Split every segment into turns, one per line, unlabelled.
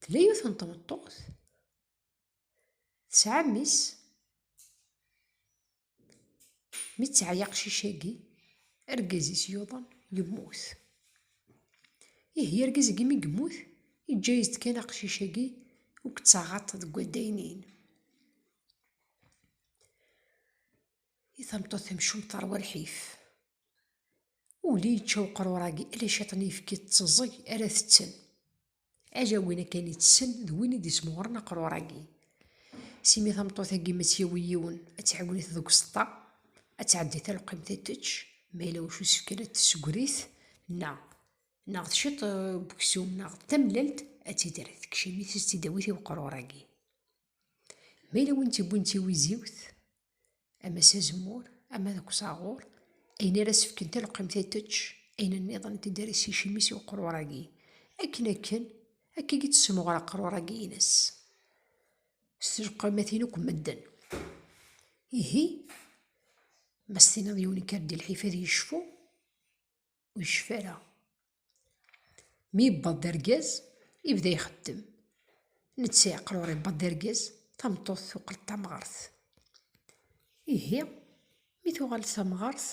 Tella yiwet n tmeṭṭut tesɛa mmi-s mi teɛya aqcic-agi argaz-is yuḍen yemmut. Ihi argaz-agi mi yemmut yeǧǧa-as-d kan aqcic-agi ur yettaɣaḍ deg waddaynin. I tameṭṭut tamcumt teṛwa lḥif. Uli yečča uqrur-agi ala ciṭ n yefki d teẓẓeg ara tetten. Ala win akken itessen d win i d-ismuɣren aqrur-agi. S imi tameṭṭut-agi ma tt-yawi yiwen, ad tɛiwen-it deg useṭṭa, ad tɛeddi talqimt ad tečč, ma yella wacu isefken ad tessegri-t, neɣ neɣ d ciṭ n weksum neɣ d tamellalt ad tt-id-terr tekcem-it, ad tt-id-tawi i uqrur-agi. Ma yella win tt-iwwin d tiwiziwt, ama s azemmur ama deg usaɣur ayen ara sefken talqemt ad tečč ayen nniḍen teddaris icimi-s i uqrur-agi akken akken akka i d-tessemɣer aqrur-agi-ines s telqamatin akk medden ihi ma s-tiniḍ yiwen ikar-d i lḥif ad yecfu ur yecfi ara. Mi yewweḍ d argaz, yebda ixeddem. Netta yeqqel ur yewweḍ d argaz, tameṭṭut tuqel d tamɣart. Ihi, mi tuɣal d tamɣart,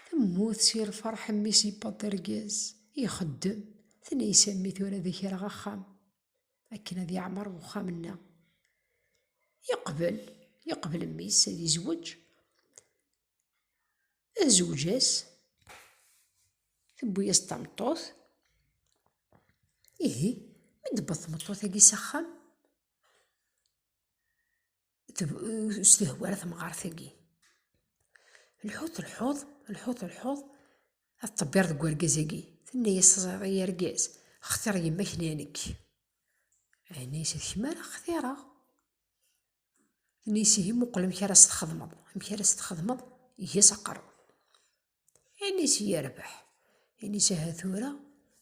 temmut si lferḥ mmi-s yewweḍ d argaz, ixeddem. Tenna-as a mmi tura ad ak-rreɣ axxam, akken ad yeɛmer uxxam-nneɣ. Yeqbel, yeqbel mmi-s ad yezweǧ. azewǧ-as tewwi-yas tameṭṭut ihi mi d-tewweḍ tmeṭṭut-agi s axxam s tehwa ara temɣart-agi lḥut lḥuḍ lḥut lḥuḍ ad ṭebbiṛ deg urgaz-agi tenna-yas teẓriḍ ay argaz xtiṛ yemma-k neɣ nekk ɛni-s d kemm ara xtiṛeɣ n isihi muqel amek ara s-txedmeḍ amek ara s-txedmeḍ ges aqerru inis yerbeḥ inis aha tura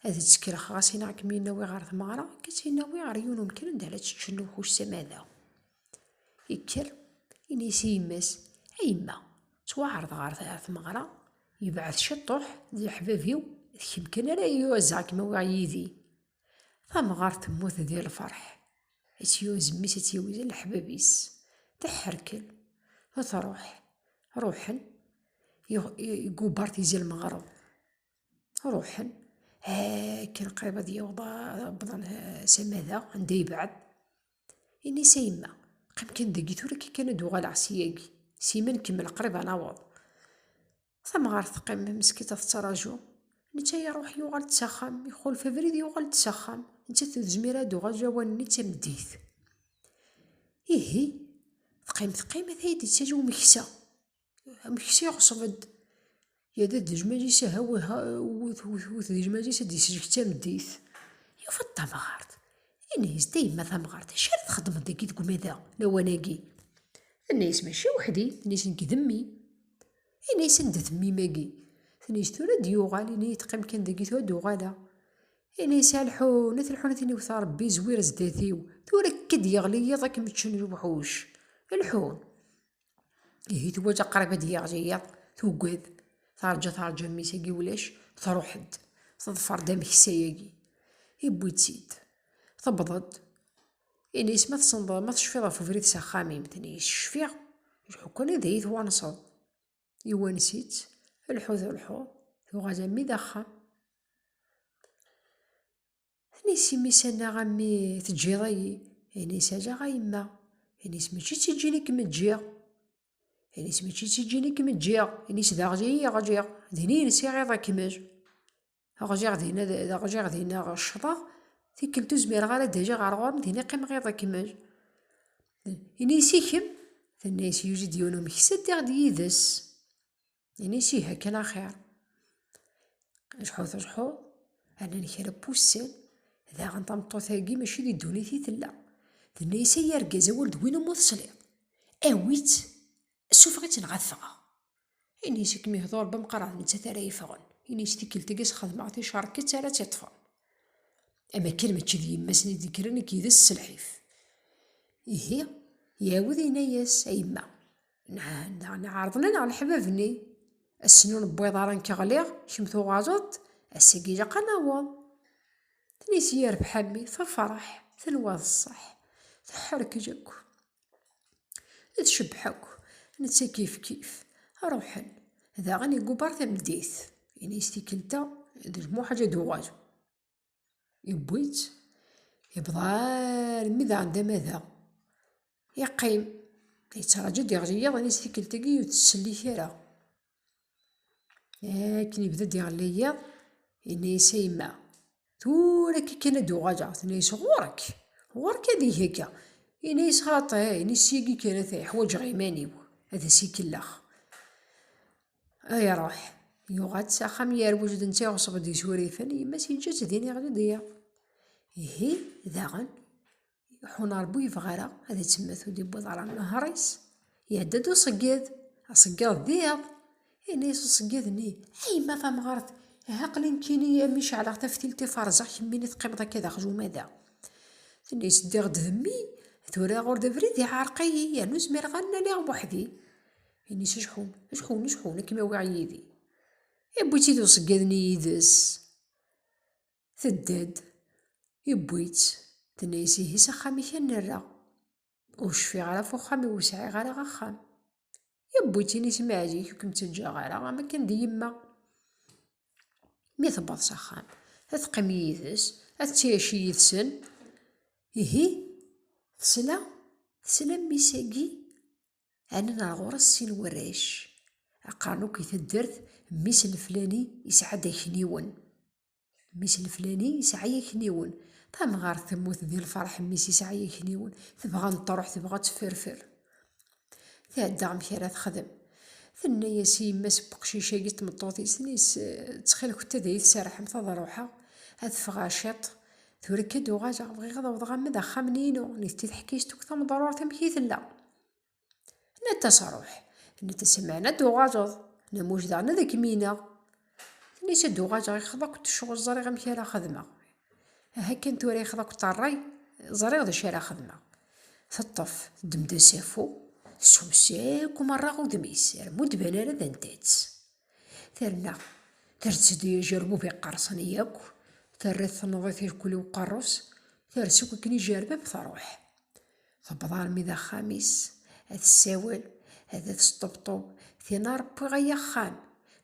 ad ttekreɣ ɣas in akem inawi ɣer tmeɣra kes inawi ɣer yiwen umkan anda ara teččen lewḥuc samada ikker inis i yemma-s a yemma ttwaɛreḍ ɣer tmeɣra yebɛed ciṭuḥ d leḥbab-iw d kemm kan ara yuɛzeɣ kem awiɣ yid-i Tamɣart temmut di lferḥ, itt-yuzem-is itt-yewwet leḥbab-is, teḥḥerkel, truḥ, ruḥen, yeggubar tizi lmeɣreb, ruḥen, akken qrib ad yewwḍen s amada, anda yebɛed, ini-as a yemma, qqim kan dagi, tura kan ad d-uɣaleɣ seg-agi, sima nkemmel qrib ad naweḍ. Tamɣart teqqim meskint tettṛaju. Netta iṛuḥ yuɣal-d s axxam, ixulef abrid yuɣal-d s axxam. Nettat ur tezmir ara ad d-tuɣal lawan-nni d tameddit. Ihi, teqqim teqqim ata iyi-d-yettaǧa umeksa. Ameksa iɣṣeb-d. Yerra-d ajmal-is aha wwet wwet wwet d ajmal-is ad d-yesselk tameddit. Yufa-d tamɣart. Yenna-as-d, A yemma tamɣart, acu ara txedmeḍ dagi deg umadaɣ lawan-agi? Tenna-as, Mačči weḥd-i, tenna-as, Nekk d mmi. Ini-as anda temmim-agi. Tini-as tura ad d-yuɣal, ini-yi teqqim kan dagi tura ad d-uɣaleɣ. Ini-as a lḥun, a telḥun a tin iwet Rebbi zwir zdat-iw, tura akka ad d-yeɣli yiḍ ad kem-ččen lewḥuc. Lḥun. Ihi tuwaǧa qrib ad d-yeɣli yiḍ, tugad, terǧa terǧa mmi-s agi ulac, truḥ-d, teḍfer-d ameksa-agi. Iwwi-tt-id. Tewweḍ-d, Ini-as ma tessneḍ ma tecfiḍ ɣef ubrid s axxam-im. Tenna-yi cfiɣ, lḥukun ad iyi-twanseḍ. Iwans-itt, lḥu d lḥu, tuɣal ammi d axxam. Ini-as imi-s annaɣ ammi teǧǧiḍ-iyi. Ini-as alaɣ a yemma. Ini-as mačči d tiǧǧin i kem-ǧǧiɣ. Ini-as mačči d tiǧǧin i kem-ǧǧiɣ. Ini-as d aɣli i yi-ɣliɣ. Din i yensiɣ iḍ akmel. Ṛjiɣ dinna, ṛjiɣ dinna, ccḍeɣ, tikkelt ur zmireɣ ara ad d-ajiɣ ɣer ɣur-m, dinna qqimeɣ iḍ akmel. Ini-as i kemm, tenna-as yuzi-d yiwen umeksa ddiɣ-d yid-s. Ini-as ih akken axir. Lḥut lḥut, rnan kra n wussan, daɣen tameṭṭut-agi mačči di ddunit i tella. Tenna-as ay argaz awal d win umi tesliḍ, awi-tt Sufeɣ-itt neɣ ad ffɣeɣ. Ini-as i kem-ihḍur bemqraḍ nettat ara yeffɣen. Ini-as tikkelt agi sxedmeɣ ticerkett ara tt-iṭṭfen. Am akken mačči d yemma-s n idekkren i k-ydes s lḥif. Ihi, iɛawed yenna-as, A yemma, neɛna ɛerḍen-aneɣ leḥbab-nni. Ass-n ur newwiḍ ara nekk ɣliɣ, kemm tuɣaleḍ-d, ass-agi ilaq ad naweḍ. Tnit yerbeḥ a mmi, tefreḥ, tenwa d ṣṣeḥ, teḥḥerkej akk. Tcebbeḥ akk, netta kifkif. Ruḥen. Daɣen igubber tameddit. Ini-as tikkelt-a d lmuḥal ad d-uɣal. Yewwi-tt, yebḍa armi daɣen d amada. Yeqqim, yettraǧu ad d-iɣli yiḍ, ini-as tikkelt-agi ur tt-tsellek ara. Akken yebda-d iɣelli yiḍ, yenna-yas a yemma, tura akka kan ad d-uɣaleɣ, tenna-yas ɣur-k, ɣur-k ad eg akka, yenna-yas xaṭi, yenna-yas syagi kan ata ḥwaǧeɣ iman-iw, ad as-ikellex. A iruḥ, yuɣal-d s axxam yerwel d netta iɣeṣṣeb-d isurifen, yemma-s yeǧǧa-tt din iɣli-d yiḍ. Ihi daɣen iḥun rebbi ur yebɣi ara ad ittemmet ur d-yewwiḍ ara nnehṛ-is iɛedda-d uṣeggid aṣeggid d iḍ yenna-yas uṣeggid-nni a yemma tamɣart aha aql-i nekkini mi ceɛleɣ taftilt i ferẓeɣ kemmini teqqimeḍ akka d aqjum ada tenna-yas ddiɣ-d d mmi tura ɣur-d abrid iɛerq-iyi yernu zmireɣ ad naliɣ weḥdi yenna-yas ajeḥun ajeḥun ajeḥun ad kem-awiɣ yid-i iwwi-tt-id uṣeggid-nni yid-s Tedda-d, iwwi-tt, tenna-yas ihi s axxam-ik a nerra. Ur cfiɣ ara ɣef uxxam-iw, ur sɛiɣ ara axxam. Iwwi-tt ini-s maɛzik ur kem-ttaǧǧaɣ ara am akken d yemma. Mi tewweḍ s axxam, ad teqqim yid-s, ad ttiɛici yid-sen. Ihi tesla, tesla mmi-s-agi ɛnan ar ɣur-s sin warrac, qqaren akk i taddart mmi-s n flani yesɛa-d akniwen. Mmi-s n Fulani yesɛa yakniwen. Tamɣart temmut di lferḥ, mmi-s yesɛa yakniwen. Tebɣa ad truḥ, tebɣa ad tefferfer. Tɛedda amek ara texdem. Tenna-yas i yemma-s n weqcic-agi d tmeṭṭut-is, tenna-yas, Ttxil-kent ad iyi-tserrḥemt ad ruḥeɣ, ad ffɣeɣ ciṭ, tura akka ad uɣaleɣ, bɣiɣ ad awḍeɣ arma d axxam-nni-inu. Nitenti teḥka-yas-d akk tameḍrurt amek i tella. Netta sṛuḥ, netta semɛen ad d-uɣaleḍ, na muj daɣen ad kem-ineɣ. Nisa ad d-uɣaleɣ ixeḍ akk ccɣel ẓriɣ amek ara xedmeɣ. Aha kan tura ixeḍ akk ṭeṛṛay ẓriɣ d acu ara xedmeɣ. Teṭṭef, teddem-d asafu, tessus akk meṛṛa udem-is, rrem ur d-ban ara d anta-tt. Terna terz-d i ajerbub iqqerṣen yakk, terra-t tenneḍ-it irkul i uqeṛṛu-s, ters akk akken ijerbeb tṛuḥ. Tewweḍ armi d axxam-is, ad tessawel, ad d-tesṭebṭub, Tinna ṛewwiɣ ay axxam!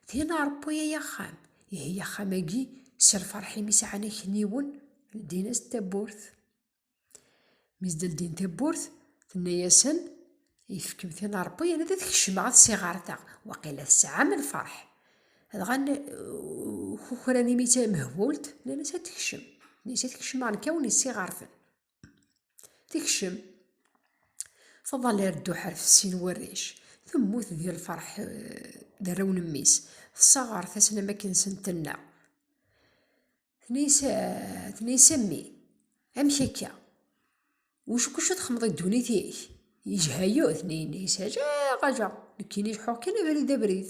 Tinna ṛewwi ay axxam! Ihi axxam-agi s lfeṛḥ imi sɛan akniwen, ldin-as-d tawwurt. Mi s-d-ldin tawwurt, tenna-asen, Ifkem tinna ṛewwi anida ad kecmeɣ ad ssiɣ ɣer da, waqila tesɛam lfeṛḥ. Dɣa kukran imi d tamehbult, nnan-as ad tekcem. Nnan-as ad kecmeɣ nekk ad wen-issiɣ ɣer ten. Tekcem Faḍal ar dduḥ ar fessin warrac, temmut di lferḥ d arraw n mmi-s, tessaɣart-asen am akken senten-nneɣ. Tenna-yas a mmi, amek akka? Wacu kucu txemmeḍ i ddunit-ik? Yejha-yo, tenna-yas ajaɣ ajaɣ, nekkini leḥḥuɣ kan abrid abrid.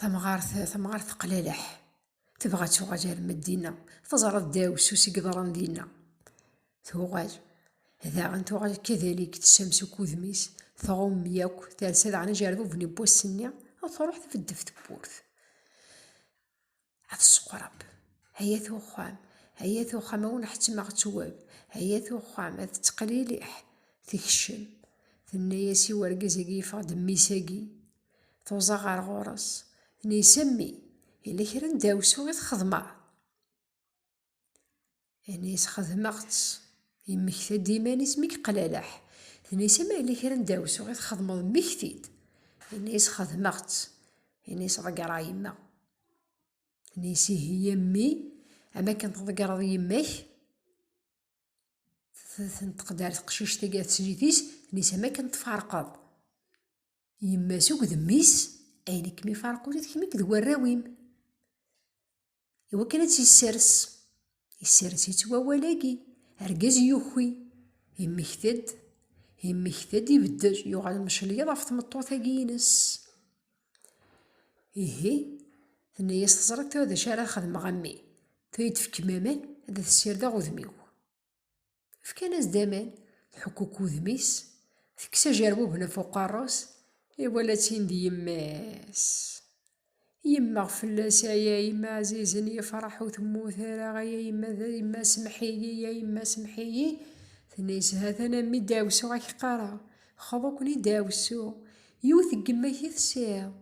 tamɣart tamɣart teqlaleḥ tebɣa ad tuɣal ar Medina teẓra ddeɛwessu i yeḍran dinna tuɣal daɣen tuɣal kadalik tessams akk udem-is tɣumm yakk tersa daɣen ajerbub n wass-nni ad truḥ tbeddef tewwurt ad tseqreb hayat uxxam hayat uxxam awen ḥettmeɣ ttwab hayat uxxam ad teqliliḥ tekcem tenna-yas i urgaz-agi yeffeɣ-d mmi-sagi tuẓa ɣer ɣur-s tenna-yas a mmi yella kra n dawsu i txedmeḍ Ini, sxedmeɣ-tt. Yemmekta-d iman-is mi yeqlaleḥ. Tenna-as, Ma yella kra n dawsu i txedmeḍ, mmekti-d. Ini, sxedmeɣ-tt. Ini-as, Ḍeggreɣ yemma. Ini-as, Ihi a mmi, am akken tḍeggreḍ yemma-k? Tenṭeq-d ar teqcict-agi ar teslit-is, ini-as, Am akken tfarqeḍ yemma-s akked mmi-s, ayen i kem-ifarqen ula d kemm akked warraw-im. i wakken ad tt-yessers yessers-itt wawal-agi argaz yuki yemmekta-d yemmekta-d ibeddel yuɣal mecliyed ɣef tmeṭṭut-agi-ines ihi tenna-yas teẓriḍ tura d acu ara xedmeɣ a mmi tura yi-d-fkem aman ad as-ssirdeɣ udem-iw Fkan-as-d aman, tḥukkuk udem-is, tekkes ajerbuben af uqerru-s, iwala-tt-in d yemma-s. Yemmeɣ fell-as, ay a yemma ɛzizen, yefreḥ ur temmut ara, ay a yemma, d yemma semḥ-iyi, ay a yemma semḥ-iyi. Tenna-as, ha-t-an a mmi deɛwessu ad k-qqareɣ, xḍu-ken i deɛwessu. Yiwet deg yemma-k i tesɛiḍ,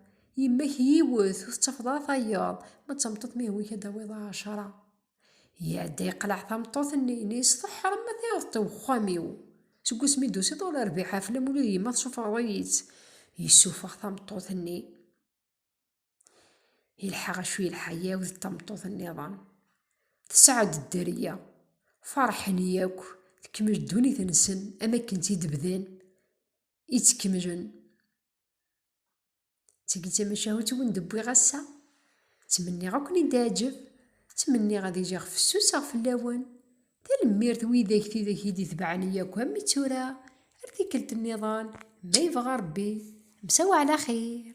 yemma-k yiwet, ur tettafeḍ ara tayeḍ, ma d tameṭṭut ma ihwa-k ad d-tawiḍ ɛecra. Iɛedda yeqleɛ tameṭṭut-nni, ini-as teḥṛem ma tayeḍ-tt i wexxam-iw. Seg wasmi i d-tusiḍ ur rbiḥ aflam ula d yemma tessufɣeḍ-iyi-tt. Yessufeɣ tameṭṭut-nni. Yelḥa acu yelḥa yaw d tameṭṭut-nniḍen. Tesɛa-d dderya. Feṛḥen yakk, tekmel ddunit-nsen am akken tt-id-bdan. I tt-kemmlen. Tteg d tamacahut wen d-wwiɣ ass-a. Ttmenniɣ ad ken-id-teɛǧeb. Ttmenniɣ ad iliɣ fessuseɣ fell-awen. Tanemmirt widak tidak i d-itebɛen i yakk am mi ttura, ar tikkelt nniḍen, ma yebɣa Rebbi. Msawa ɛla xir.